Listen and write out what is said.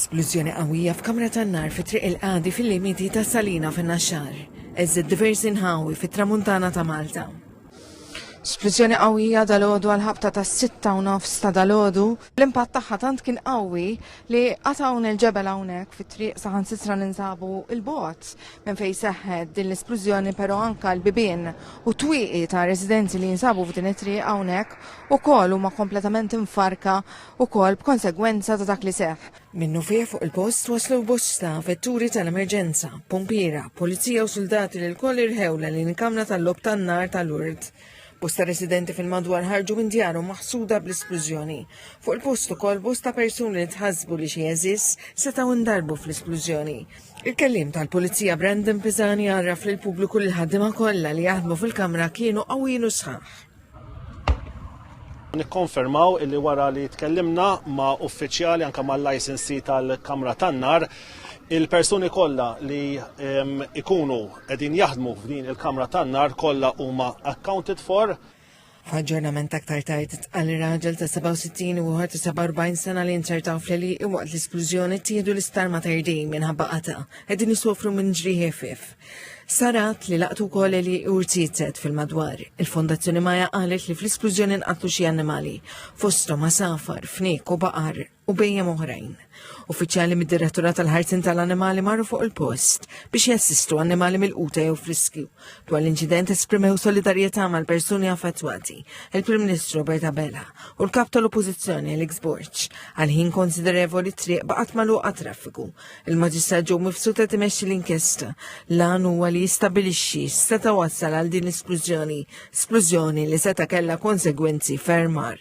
Splużjoni qawwija f'kamra tan-nar fi Triq il-Qadi fil-limiti ta' Salina fin-Naxxar. Eżżed diversi nħawi fit-Tramuntana ta' Malta. Splużjoni qawwija dal-għodu għal ħabta ta' sitta u nofs ta' dal-għodu L-impatt tagħha tant kien qawwi li qatt hawn il-ġebel hawnhekk fit-triq saħansitra ninsabu il-bot minn fejn seħħet din l-isplużjoni però anka l-bibien u twieqi ta' residenzi li jinsabu f'din it-triq hawnhekk ukoll huma kompletament imfarka ukoll b'konsegwenza ta' dak li seħħ. Minnufih fuq il-post waslu bosta vetturi tal-emerġenza, pumpiera, pulizija u suldati li lkoll irħew l-għalien kamra tal-logħob tan-nar tal-Lourdes. Bosta residenti fil-madwar ħarġu minn djarhom maħsuda bl-isplużjoni. Fuq il-post ukoll bosta persuni li tħassbu li xi għeżież setgħu ndarbu fl-isplużjoni. Il-kelliem tal-Pulizija Brandon Pisani għarraf lil pubbliku li l-ħaddiema kollha li jaħdmu fil-kamra kienu qawwin u sħaħ. Nikkonfermaw illi wara li tkellimna ma' uffiċjali anke mal-licensee tal-kamra tan-nar, il-persuni kollha li ikunu qegħdin jaħdmu f'din il-kamra tan-nar kollha huma accounted for. F'aġġornament aktar tard tqal li raġel ta' 67 u ieħor ta' 47 sena li nċertaw fleli waqt l-isplużjoni tieħdu l-isptar ma' terdin minħabba qata qegħdin isofru minn ġrieħi ħfief. Sarat li laqtu wkoll li urtizet fil-madwar. Il-Fondazzjoni Maja qalet li fl-isplużjoni nqatlu xi annimali, fosthom safar, fnik u baqar. u bejjem oħrajn. Uffiċjali mid-Direttura tal-Ħarsin tal-Animali marru fuq il-post biex jassistu annimali mill-quta jew friskju. Dwar l-inċident esprimew solidarjetà mal-persuni affettwati, il-Prim Ministru Robert Abela u l-Kap tal-Oppożizzjoni Alex Borċ għal ħin konsiderevoli triq baqgħet magħluqa traffiku. Il-Maġistrat ġew mifsuta timexxi l-inkjesta lan huwa li jistabilixxi seta' wassal għal din l-isplużjoni, splużjoni li seta' kellha konsegwenzi fermar.